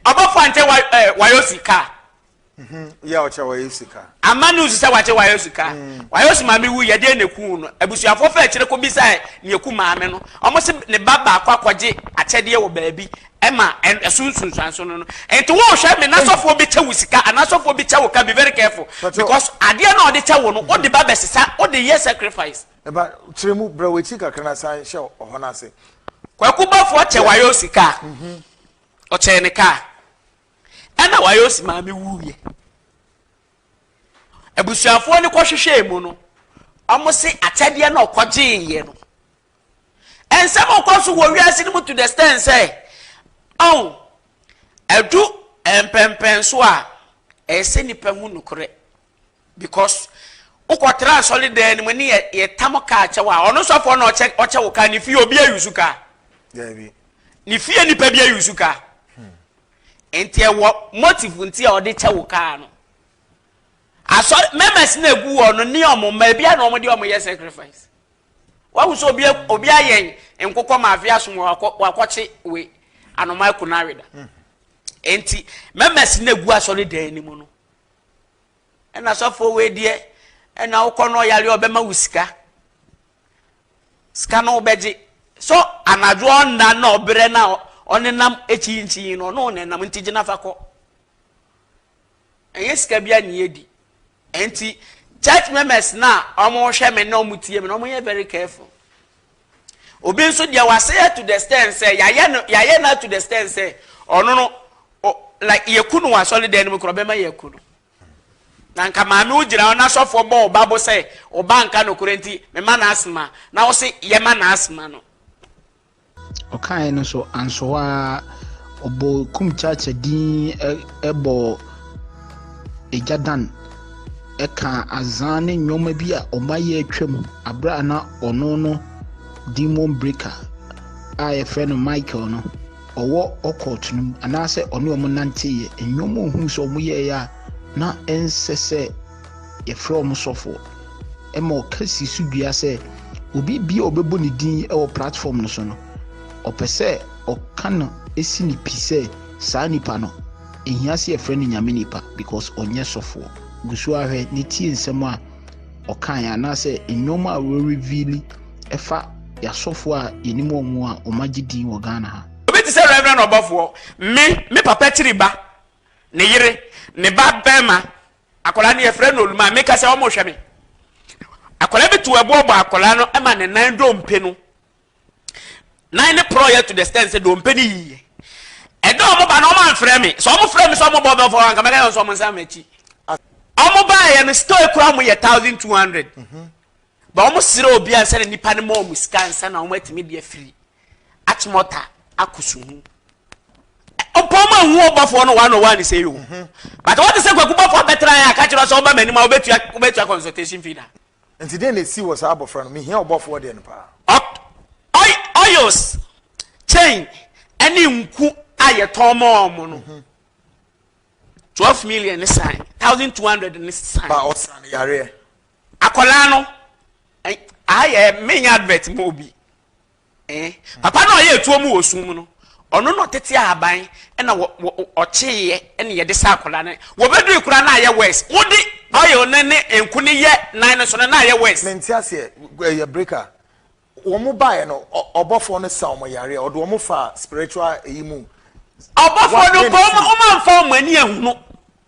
ɔbɔfo ankyɛ wa ɛɛ wayɔ sika. Mhm, yɛ ɔkyɛ wayɔ sika. ama news sɛ wakyɛ wayɔ sika mm. wayɔ si maame wu yɛdeɛ na eku no abusuafo fɛ akyire ko bisa ne eku maame no wɔn se ne ba baako akɔgye akyɛdeɛ wɔ baabi ɛma ɛso nsunsuanso no no nti wɔn hwɛ mi n'asɔfoɔ bi kyɛ wo sika an'asɔfoɔ bi kyɛ wo ka be very careful because adeɛ na ɔde kyɛ wo no ɔde ba bɛsesa ɔde yɛ sacrifice. Ɛba, kyerɛ mu, brɛ w'akyi kakra na san hyɛ ɔhɔ no ase. Kwaku Bɔfoɔ kyɛ Wayosi kaa. Ɔkyɛɛ ne kaa. Ɛna Wayosi maame wuiɛ. Abusuafoɔ no kɔhwehwɛɛ mu no, wɔse akyɛdeɛ no a ɔkɔgyeeɛ no, nsɛm a ɔkɔ so wɔ wiase no mu to the extent sɛ, ɔn, ɛdu mpɛmpɛnso a, ɛsɛ nipa hu nokorɛ. because wokɔ tra asɔre dan no mu ne yɛ yɛ tam kaa kyɛw a ɔno sɔfoɔ na ɔkyɛ ɔkyɛ wo kaa ne fie obi ayi su kaa ne fie nipa bi ayi su kaa nti ɛwɔ motive nti a ɔde kyɛ wo kaa no asɔre members na egu wɔ no ne ɔmo mma ebi a na ɔmo de ɔmo yɛ sacrifice wahu sɛ obi obi ayɛ nkokɔ maafe asom wakɔ wakɔkye we anoma ɛko na aweda nti members na egu asɔre dan no mu no. ɛna sɔfoɔ wei deɛ ɛna wokɔ no ɔyare ɔbɛma wo sika sika no wobɛgye so anadwo ɔnna na ɔberɛ na ɔnenam akyinkyin no ɔno ɔnenam nti gyina fa kɔ ɛnyɛ sika bi ani adi ɛnti church members na wɔhwɛ me na wɔtie me na wɔyɛ very careful Obi nso deɛ wasɛe yɛ to the stand sɛ yɛayɛ no yɛayɛ no to the stand sɛ ɔno no like yɛku no wɔ asɔredan no mu kora ɔbɛma yɛaku no na nka maame wo gyina hɔ na sɔfoɔ bɔ ɔba bo sɛ ɔba nka nokorɛ nti mema no asema na wo se yɛma no asema no ɔkaeɛ no so ansoɔ a ɔbɔ kum kyakya din bɔ agya dan kaa azã ne nneɛma bi a wɔayɛ atwam bere a na ɔno no demon breaker a yɛfrɛ no Michael no ɔwɔ ɔkɔɔto no mu anaasɛ ɔne wɔn nanteeɛ nneɛma ohun sɛ wɔn yɛeɛ a na ɛnsɛ sɛ yɛfrɛ wɔn sɔfoɔ ɛma ɔka si so dua sɛ obi bi a ɔbɛbɔ ne din wɔ platform no so no ɔpɛ sɛ ɔka no si ne pi sɛ saa nipa no Ehia sɛ yɛfrɛ no Nyame nipa because ɔnyɛ sɔfoɔ. Gu so ara hwɛ ne tie nsɛm a ɔkaeɛ anaasɛ nnoɔma a wɔ reveal ɛfa yasɔfoɔ a yɛnim wɔn a wɔn agye din wɔ Ghana ha. Obi te sɛ Rev. Ɔbɔfoɔ, me, me papa kyiri ba, ne yere, ne ba barima, akwadaa no yɛfrɛ no Oluma, meka sɛ wɔrehwɛ me. Akwadaa bi to ɛboɔ bɔ akwadaa no ma ne nan dompe no nan ne porɔeɛ to the stand sɛ dompe ne yiye ɛdɛ ɔmo ba no ɔmo anfrɛ me sɛ ɔmo frɛ me sɛ ɔmo bɔ bɛfɔ anka mɛka yɛn sɛ ɔmo nsa m'akyi ɔmo baayɛ no store kura mo yɛ thousand two hundred ba ɔmo srɛ obi ansa na nipa no ma ɔmo sika ansa na ɔmo atumi de afiri akyemɔta akɔ suhu ɔpɔn mu ehu ɔbɔfoɔ no one on one sɛ yi o but wɔte sɛ kwaku bɔfoɔ bɛtena yɛ akakyerɛ sɛ ɔba m'anim a wobɛtua consultation fee da Enti dɛn na esii wɔ saa abofra no? Mihia ɔbɔfo ɔde no paa. Ɔk, ɔy, oils, chain, ɛne nku a yɛtɔn ma wɔn no, twelve million ne san, thousand two hundred ne san. Ba ɔsa no yareɛ. Akwadaa no, ɛ, aha yɛ menya advert ma obi. Ee. Papa no a ɔyɛɛ tuo mu wɔ sum mu no, ɔno na ɔtetee ahaban na ɔkyeeɛ na yɛde saa akwadaa no. Wɔbɛdui koraa na ayɛ worse. Wode oil no ne nku no yɛ nan no so no, na ayɛ worse. Mente aseɛ, ɛyɛ break a. Wɔn baeɛ no, ɔbɔfoɔ no sa wɔn yareɛ a, ɔde wɔn faa spiritual ɛyi mu. Ɔbɔfoɔ no mpo, wɔn amfa wɔn ani ahunu.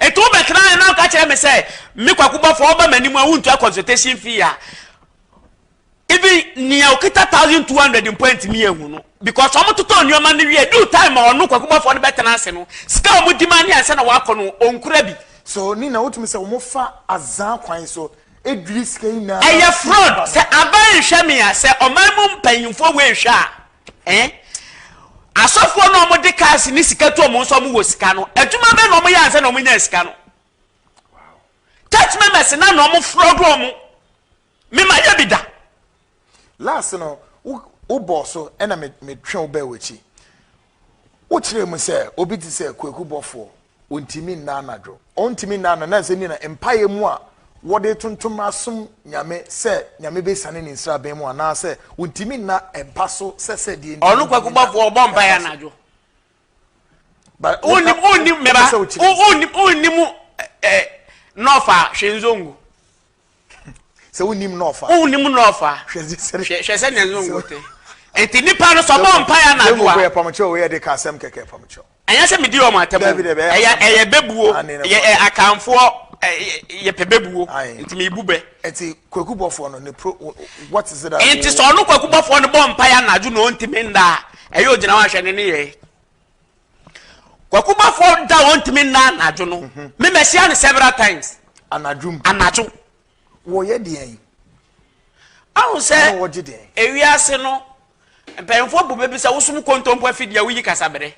Enti wobɛtena he na woka kyerɛ me sɛ, Me Kwaku Bɔfoɔ, woba m'anim a wontua consultation fee a, even nea okita thousand two hundred mpo antumi anhu no because wɔn totɔ nneɛma no wie due time a ɔno Kwaku Bɔfoɔ no bɛtena ase no sika a wɔn di ma ne ansa na wakɔ no onkura bi. So ne na wotumi sɛ wɔn fa azan kwan so edwiri sika yi nyinaa. Ɛyɛ fraud sɛ aban nhwɛ me a sɛ ɔman mu mpanyinfoɔ wei nhwɛ a Ɛn? Asɔfoɔ no a wɔde cars ne sika tu wɔn nso wɔwɔ sika no, adwuma bɛn na wɔyɛ ansa na wɔnyaa sika no? Church members na na wɔfrɔd wɔn. Mema yɛ bi da. Last no, wobɔɔ so ɛna metwe wo bɛɛ w'akyi. Wokyerɛ mu sɛ obi te sɛ Kwaku Bɔfoɔ. Ontumi nna anadwo. Ontumi nna anadwo. Nanso ɛnde na mpaeɛ mu a wɔde tontom asom Nyame sɛ Nyame bɛsiane ne nsraban mu anaa sɛ ontumi nna mpa so sɛ sɛ deɛ nti Ɔno Kwaku Bɔfoɔ ɔbɔ mpaeɛ anadwo. But wo Onnim onnim me ba wopɛ sɛ wokyerɛ nti. onnim onnim eh, eh, nɔfa hwɛ nzongo. sɛ wonnim na ɔfa wonnim na ɔfa hwɛ sɛ ne nzongo te nti nipa no sɛ ɔbɔ mpae anadwo a yɛ pam kyɛw yɛ de ka asɛm kɛkɛ pam kyɛw ɛnyɛ sɛ medi wɔn atɛm ɛyɛ ɛyɛ bɛbuo yɛ akanfoɔ yɛ pɛ bɛbuo nti mebu bɛ nti kwaku bɔfoɔ no ne pro what is it nti sɛ ɔno kwaku bɔfoɔ no bɔ mpae anadwo na ɔntimi nda a ɛyɛ ogyina hɔ ahwɛ ne ne yɛ Kwaku Bafo da ɔntumi nna anadwo no. Mhm. Me mɛhyia no several times. Anadwo mu. Anadwo. Wɔyɛ deɛ yi. Ahu sɛ ewiase no mpanyinfoɔ bu bɛbi sɛ wosom kontompo afidie a woyi kasabere.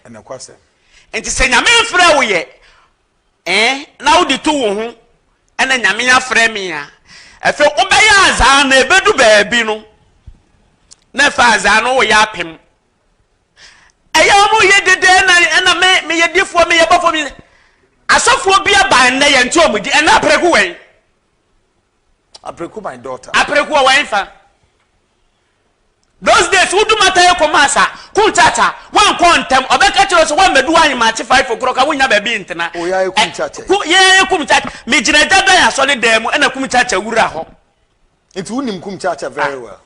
Nti sɛ nyame mfrɛ wo yɛ eh, na wode to wo ho ɛna nyame afrɛ me a ɛfɛ wobɛyɛ azaa na ɛbɛdu baabi no na ɛfɛ azaa no woyɛ apem Ɛyɛ a wɔyɛ dede na ɛna me meyɛ difoɔ meyɛ bɔfoɔ me asɔfoɔ bi aba ɛnɛ yɛn nti wɔn di ɛnɛ apreku wɛn. Apreku my daughter. Apreku wɔ wɛn fa. Those days wodu mata yɛ kɔma asa kun kyakya wɔn kɔ ntɛm ɔbɛka kyerɛ sɛ wɔn mɛdu ayi ma akye five o'clock a wonya baabi ntena. Oya yɛ kum kyakya. Ku yɛ yɛ kum kyakya me gyina gya dan asɔre dan mu ɛna kum kyakya wura hɔ. Nti wonim kum kyakya very well.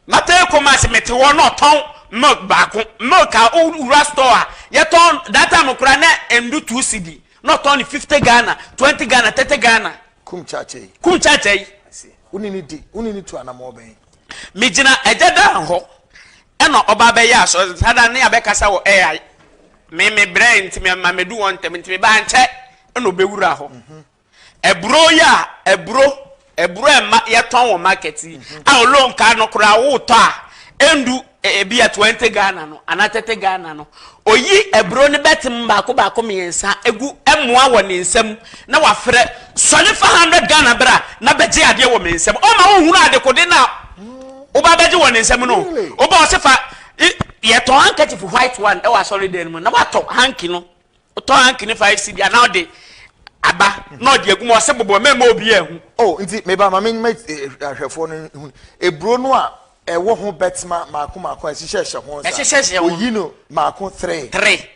M'atare Kumasi mete hɔ na ɔtɔn milk baako milk a wo wura store a yɛtɔn that time koraa na ɛndu two cedi na ɔtɔn no fifty Ghana twenty Ghana thirty Ghana. Kum Kyakya yi. Kum Kyakya yi. I see wo ne no di wo ne no tu anamɔ bɛn. Me gyina Agya Dan hɔ ɛna ɔba abɛyɛ asɔre saa da no ne abɛ kasa wɔ ai me me brɛɛ nti me ma mɛdu hɔ ntɛm nti me ba ankyɛ ɛna ɔbɛwura hɔ. Aburo yi a aburo aburo a ɛma yɛtɔn wɔ market yi a ɔlɔ nkaa no koraa wotɔ a ɛndu ebi a twenty Ghana no anaa thirty Ghana no oyi aburo no bɛtem baako baako mmiɛnsa egu ɛmoa wɔ ne nsam na wafrɛ sɔne fa hundred Ghana bra na bɛgye adeɛ wɔ me nsam ɔma wohunu adekode no a woba bɛgye wɔ ne nsam no woba ɔse fa yɛtɔn handkerchief white one ɛwɔ asɔre dan no mu na watɔ hanky no. Ɔtɔ hanky ne five cedi anaa ɔde aba na ɔde agu mu ɔse bobɔ mɛmma obiaa ahu. Oh nti meba ma menma ahwɛfoɔ no hu aburo no a ɛwɔ ho bɛtma maako maako a ɛhyehyɛhyɛ ho saa. Ɛhyehyɛhyɛ ho. Oyi no maako three. Three.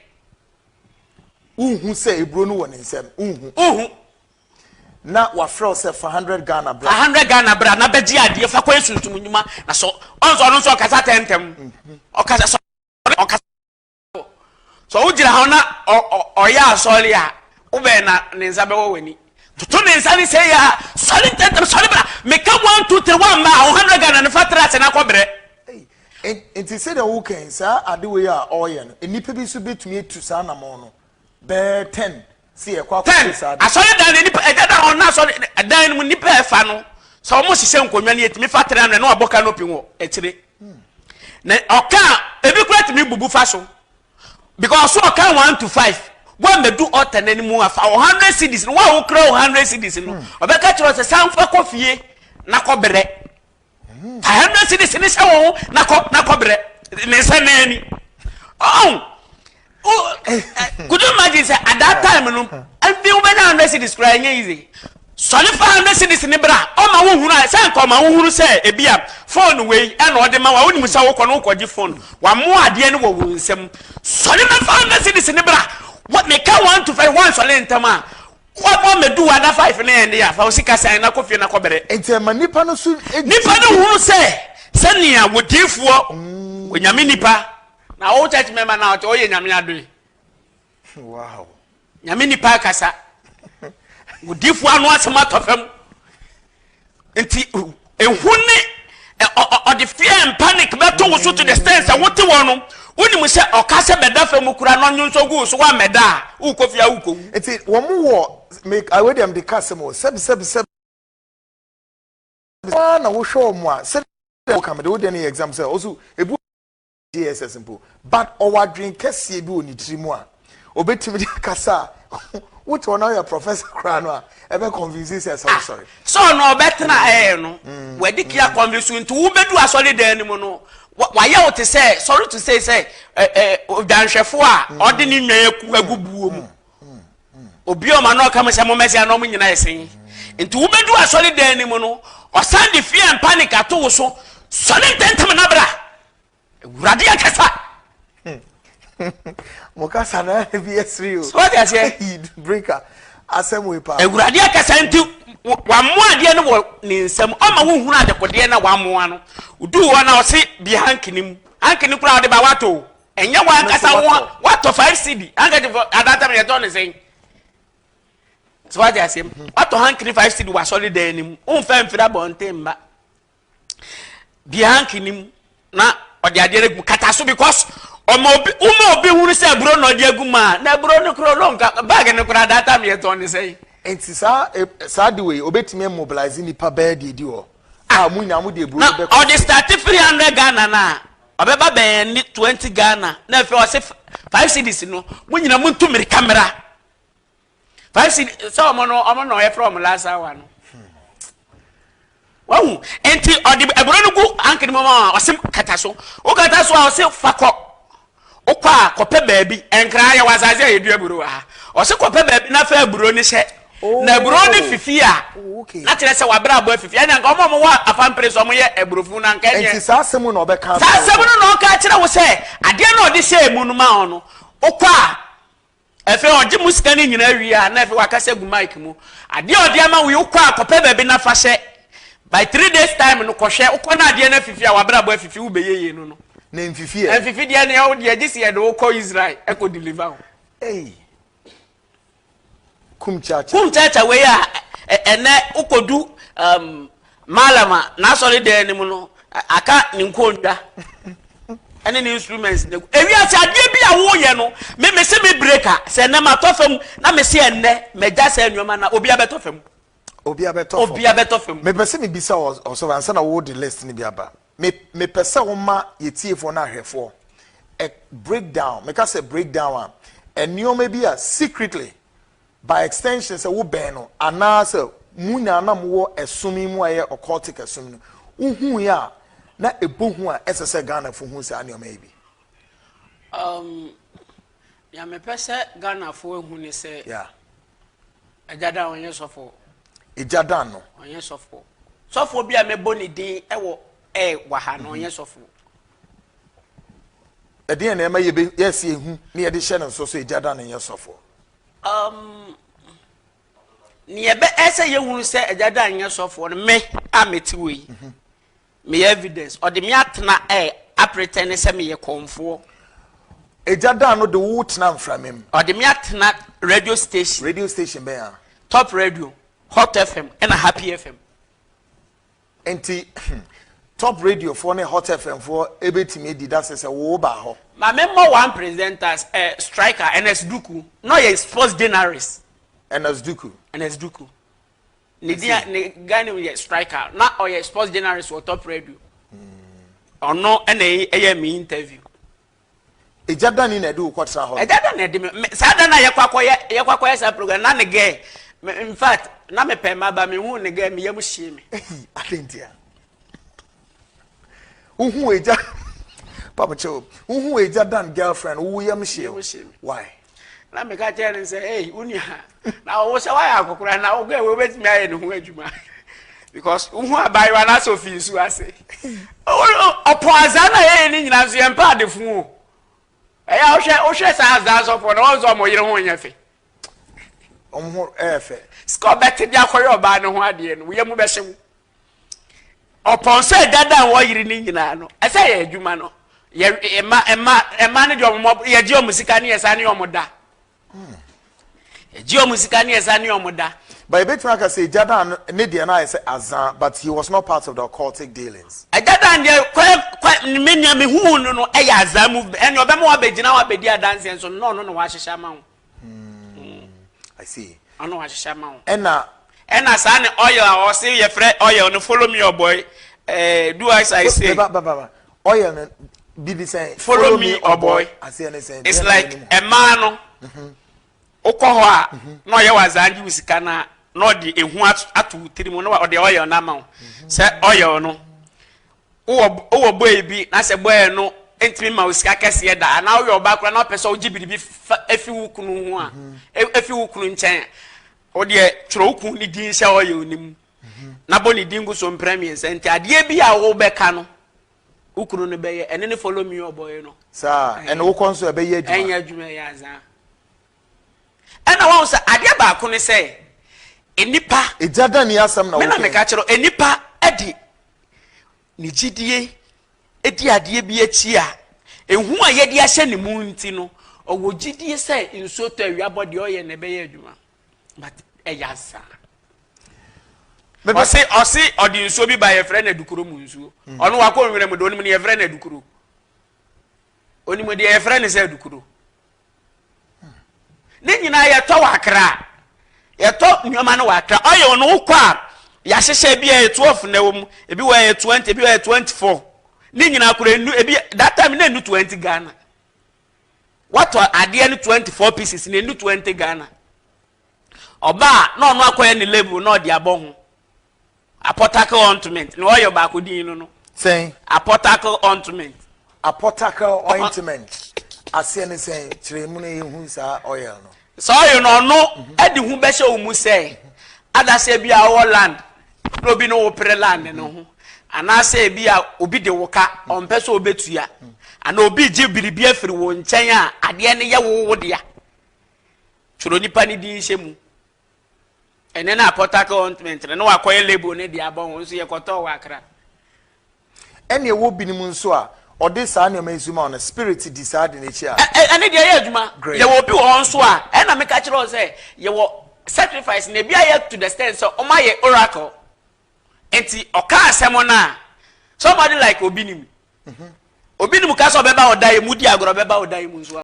Wonhu sɛ aburo no wɔ ne nsam wonhu. Wonhu. Na wafrɛ wo sɛ fa hundred Ghana bra. Fa hundred Ghana bra na bɛgye adeɛ fa kɔyɛ sunsum nnwuma na sɔ ɔnsɔ ɔno nso ɔkasa tɛntɛm ɔkasa sɔ ɔkasa. sɛ wogyina hɔ na ɔyɛ asɔre a wobɛn na ne nsa bɛwɔ w'ani toto ne nsa ne sɛ yɛ a sɔre ntɛntɛm sɔre bra meka one two three one ma a wo hundred ghana ne fa tra ase na kɔbrɛ nti sɛdeɛ wo kɛn saa adewei a ɔreyɛ no nnipa bi nso bɛtumi atu saa anamɔn no bɛɛ ten Ten, asɔredan no nnipa, ɛda da a wɔn asɔre dan no mu nnipa a ɛfa no, sɛ wɔn hyehyɛ nkonnwa no yɛtumi fa tena no na wɔabɔ canopy wɔ akyire. Na ɔka a ebi kura tumi bubu fa so because ɔka one to five wɔn mɛdu ɔta n'anim afa wɔn hundred cedis no wɔn a wɔkura wɔn hundred cedis no ɔbɛka kyerɛ sɛ sanfa kɔ fie na kɔ brɛ. a hundred cities ne hyɛ wɔn ho na kɔ na kɔ brɛ ne nsa nan ni ɔn o could you imagine sɛ at that time no ɛnfi wo bɛnya hundred cities kura ɛnyɛ yize sɔne fa hundred cities ne bra ɔma wo hunu a sɛ nka ɔma wo hunu sɛ ebi a phone wei ɛna ɔde ma wa wo nim sɛ wokɔ no wokɔ gye phone wa mo adeɛ no wɔ wɔn nsam sɔne bɛfa hundred cities ne bra meka wɔn to fɛ wɔn sɔne ntɛm a Wa bɔ mɛdu wa da five ne ɛnde a fa osi ka sɛn na kɔ fie na kɔ bɛrɛ. Nti ɛma nipa no so. Nipa no hunu sɛ sɛ nea wɔ diifoɔ wɔ nyame nipa na ɔwɔ church member na ɔte ɔyɛ nyame adoe. Wow. Nyame nipa kasa. Wɔ diifoɔ ano asɛm atɔ fam. nti ehu ne ɔde fear and panic bɛto wo so to the extent sɛ wote wɔ no wonim sɛ ɔka sɛ bɛda fam mu kura na ɔnwonsɔ gu so woammɛda a wokɔ fie a wokɔ wu nti wɔn wɔ awɛ deɛ mede ka asɛm o sɛbisɛbisɛbi na wohwɛ wɔn a sɛdeɛ woka mede wodeɛ no yɛ exam sɛ ɔso ebu JSS mpo but ɔwɔ adwene kɛseɛ bi wɔ ne tiri mu a obetumi de akasa a wote ɔno ayɛ professor koraa no a ɛbɛ convince sɛ ɛsɛ ɔsɔre. sɛ ɔno ɔbɛtena ɛɛ no wɔde kia convince nti wobedu asɔre dan no mu no wayɛ wo te sɛ sorry to say sɛ odwanhwɛfo a ɔde ne nnwan aku agu buo mu obi a ɔma no ɔka mu sɛ mo mmɛsia na ɔmo nyina ɛsen nti wobedu asɔre dan no mu no ɔsan de fear and panic ato wo so sɔre ntɛntɛm na bra awurade akasa mo kasa na ebi esiri o sọ de aseɛ yid breaker asɛm wei paa awurade akasa nti wamoa adeɛ no wɔ ne nsam ɔma wo hunu adekodeɛ na wamoa no du hɔ na ɔse bi hankini mu hankini koraa ɔde ba wato ɛnyɛ wɔn ankasa wɔn watɔ five cd hankini fɔ adantam yɛ tɔ ne sɛn sọ de aseɛ watɔ hankini five cd wasɔre dan ne mu nfa mfiri abɔnten mba. deɛ hank ni mu na ɔde adeɛ no agu kata so because ɔma obi woma obi hunu sɛ aburo na ɔde agu ma na aburo no koro no nka bag no koraa data mi yɛtɔn ne sɛn. nti saa e, saa de wei obetumi mobilize nipa bɛɛ deɛ di hɔ a mu nyinaa mu de aburo no bɛkɔ. na ɔde start three hundred ghana na ɔbɛba bɛn ne twenty ghana na afei ɔse five cities no mu nyinaa mu ntu mmirika mmira. five cd sɛ ɔmo no ɔmo na ɔyɛ fɛ ɔmo last hour no wahu nti ɔde ɛburo no gu ankiri mu a ɔsi kata so o kata so a ɔsi fakɔ okɔ a kɔpɛ baabi nkran yɛ wɔ asase a yɛdua aburo wɔ ha ɔsi kɔpɛ baabi na fɛ aburo no hyɛ na aburo no oh. fifi a oh, na kyerɛ sɛ wabere abɔ afifi ɛna nka ɔmo ɔmo wɔ apampere so ɔmo yɛ aburofo na nka ɛnyɛ nti saa asɛm no na ɔbɛka saa asɛm no na ɔka kyerɛ wo sɛ adeɛ na ɔde hyɛ emu no ma ɔno okɔ a Afei ɔgye mo sika no nyinaa wie a, na afei wakasa gu mic mu. Adeɛ a ɔde ama wo yi, wokɔ a kɔpɛ baabi na fa hyɛ. By three days time no, kɔhwɛ. Wokɔ na adeɛ no afifi a, w'abrabɔ afifi, wobɛyɛ yie no no. Na ɛmfifi ɛ. Ɛmfifi deɛ ne ɛwo deɛ, gye sɛ yɛde wo kɔ Israel ɛkɔ deliver wo. Ei! Kum Chacha. Kum Chacha wei a, ɛnɛ wokɔdu um. Mallam a n'asɔre dan no mu no, aka ne nkonnwa ne ne instruments na egu. Ewia sɛ adeɛ bi a woyɛ no, me me se me break a, sɛ ɛnɛ ma tɔ fam na me se ɛnɛ mɛ gya sɛ nneɛma na obi abɛtɔ fam. Obi abɛtɔ fam. Obi abɛtɔ fam. Mepɛ sɛ mebisa ɔsɔfo ansa na wɔde list no bi aba. Me mepɛ sɛ woma yɛtiefoɔ no ahwɛfoɔ a breakdown meka sɛ breakdown a nneɛma bi a secretly By extension, sɛ wobɛn no anaa sɛ mo nyinaa na mowɔ ɛsom yi mu a ɛyɛ occultic ɛsom no, wohuui a na ɛbɔ hu a ɛsɛ sɛ Ghanafo hu saa nneɛma yi bi. Um, nea mepɛ sɛ Ghanafo ahu ne sɛ, yeah. Agya Dan ɔnyɛ sɔfo. Agya Dan no. Ɔnyɛ sɔfo. Sɔfo bi a mɛbɔ ne din ɛwɔ ɛ wɔ ha no ɔnyɛ mhm. sɔfo. ɛdeɛn na ɛma yɛsi ehu na yɛde hyɛ no nso so agya da no nyɛ sɔfoɔ Nea ɛbɛyɛ sɛ yɛhunu sɛ Agya Dan nyɛ sɔfoɔ no, me a mete wɔ yi, mhm. meyɛ evidence. Ɔde me atena ɛ eh, apretɛn ne sɛ meyɛ kɔnfoɔ. Agya Dan no de wo tena mframa mu. Ɔde me atena radio station. Radio station bɛn a? Top radio, Hot FM, ɛna Happy FM. Nti top radio foɔ ne hot fm foɔ ɛbɛtumi adi dase sɛ wo baa hɔ. Ma me mmɔ one presenters eh, striker Ernest Duku na ɔyɛ sports journalist. Ernest Duku. Ernest Duku. Ne dia ne guy name yɛ striker na ɔyɛ sports journalist wɔ top radio. Ɔno ɛna ɛyɛ me interview. Egya dani na ɛde wo kɔ tra hɔ no. Egya da na ɛde me me saa da na yɛkɔ akɔyɛ yɛkɔ akɔyɛ saa program na ne gɛɛ me in fact na me pɛn ma ba me hu ne gɛɛ me yam hyee me. Ehi atentia. Uhu egya. Papa kyɛw. Uhu egya dan girlfriend wo yam hyee. Why? na meka kyerɛ no sɛ ei wo nua na wo sɛ woayɛ akɔkora na wokɔ ɛwɔ wobɛtumi ayɛ ne ho adwuma because wohu abayewa no asɛ ofi nsu ase ɔpɔ azaa na yɛyɛ ne nyinaa nso yɛmpɛ adefo o ɛyɛ wohwɛ wohwɛ saa azaa sɔfoɔ na wɔn sɛ ɔmo yere ho nyɛ fɛ ɔmo ho ɛyɛ fɛ sika ɔbɛte de akɔyɛ ɔbaa no ho adeɛ no woyɛ mu bɛhyew Ɔpɔn sɛ dada a wɔyere ne nyinaa no, ɛsɛ yɛ adwuma no. Yɛ mma mma mma no deɛ wɔn yɛgye wɔn sika ne yɛsa ne wɔn da. Yɛgye wɔn sika ne yɛsa ne wɔn da. But ebetumi aka sɛ dada no ne deɛ no ayɛ sɛ azan but he was not part of the occultic dealings. Dada deɛ kɔ kɔ me nea me hu no no ɛyɛ azan mu ɛnna ɔbɛma wabɛgyina wabɛdi adanseɛ nso nnɔɔ no na wahyehyɛ ama ho. Hmm. I see. Ɔno wahyehyɛ ama wo. Ɛna. Ɛna saa ne oil a ɔse yɛfrɛ oil no follow me ɔbɔy. Eh, do as I say. Ba ba ba. Oil no bibi sɛn. Follow me ɔbɔy. Aseɛ ne sɛn. It's like ɛmaa no. Mhm. Wokɔ hɔ a mhm. na ɔyɛ wazaa gye wo sika na na ɔde ehu ato tiri mu na ɔde oil no ama wo. Mhm. Sɛ oil no Wowɔ wowɔ bɔe bi na sɛ bɔe no ntumi mma wo sika kɛseɛ da anaa woyɛ ɔbaa koraa na wopɛ sɛ wogye biribi fa efi wo kunu ho a e- efi wo kunu nkyɛn a, wo deɛ twerɛ wo kunu ne din hyɛ ɔyɛ no mu na bɔ ne din gu so mprɛ mmiɛnsa nti adeɛ bi a wobɛka no wo kunu no bɛyɛ ɛne ne follow me ɔbɔe no saa ɛne wokɔ nso ɛbɛyɛ adwuma ɛnyɛ adwuma yɛ azaa Ɛna wahu sɛ adeɛ baako ne sɛ nnipa. Egya dɛn ne asɛm na woka yi? Me na meka kyerɛ wo, nnipa de ne gyidie di adeɛ bi akyi a, ehu a yɛde ahyɛ ne mu nti no, ɔwɔ gyidie sɛ nsuo tɔ awia bɔ deɛ ɔyɛ na ɛbɛyɛ adwuma. But ɛyɛ asa. Ɔse ɔse ɔde nsuo bi ba yɛfrɛ no adukuro mu nsuo. Ɔno wakɔ nwura mu de onim ne yɛfrɛ no adukuro. onim deɛ yɛfrɛ ne sɛ adukudo ne nyinaa yɛtɔ wɔ akra yɛtɔ nneɛma no wɔ akra ɔyɛ no wokɔ a yɛahyehyɛ bi a yɛ twelve na ɛwɔ mu ebi wɔ yɛ twenty ebi wɔ yɛ twenty four ne nyinaa kora enu ebi that time na enu twenty ghana watɔ adeɛ no twenty four pieces na enu twenty ghana ɔbaa na ɔno akɔyɛ ne label na ɔde abɔ ho. Apɔtakel ɔintment na ɔyɛ ɔbaako din no no. Sɛn? Apɔtakel ɔintment. Apɔtakel ɔintment aseɛ ne sɛn? Kyerɛ mu na yɛhu saa ɔyɛl no. Sɛ ɔyɛ no ɔno mhm. de ho bɛhyɛ wo mu sɛ adaseɛ bi a ɔwɔ land na obi ne wo pere land no mhm. ho anaasɛ ebi a obi de wo ka mhm. ɔmpɛ sɛ ɔbɛtua anaa obi gye biribi afiri wo nkyɛn a adeɛ no yɛ wo wo dea twerɛ nipa no din hyɛ mu Ɛnnɛ no a Port Harcourt Ointment no na wɔakɔyɛ label no de abɔ ho, nso yɛkɔtɔɔ wɔ Accra. Ɛnna ɛwɔ binom nso a, wɔde saa nneɛma yi nso ma wɔn, na spirit di saa ade no akyi a. Ɛ, ɛno deɛ ɛyɛ adwuma. Great. Yɛwɔ obi wɔ hɔ nso a, ɛnna meka kyerɛɛ wɔn sɛ yɛwɔ sacrifice, na ebi ayɛ to the extent sɛ wɔayɛ oracle. Enti ɔka asɛm no a, somebody like Obinim, Obinim ka sɛ ɔbɛba wo dan mu, wodi agorɔ, ɔbɛba wo dan mu nso a.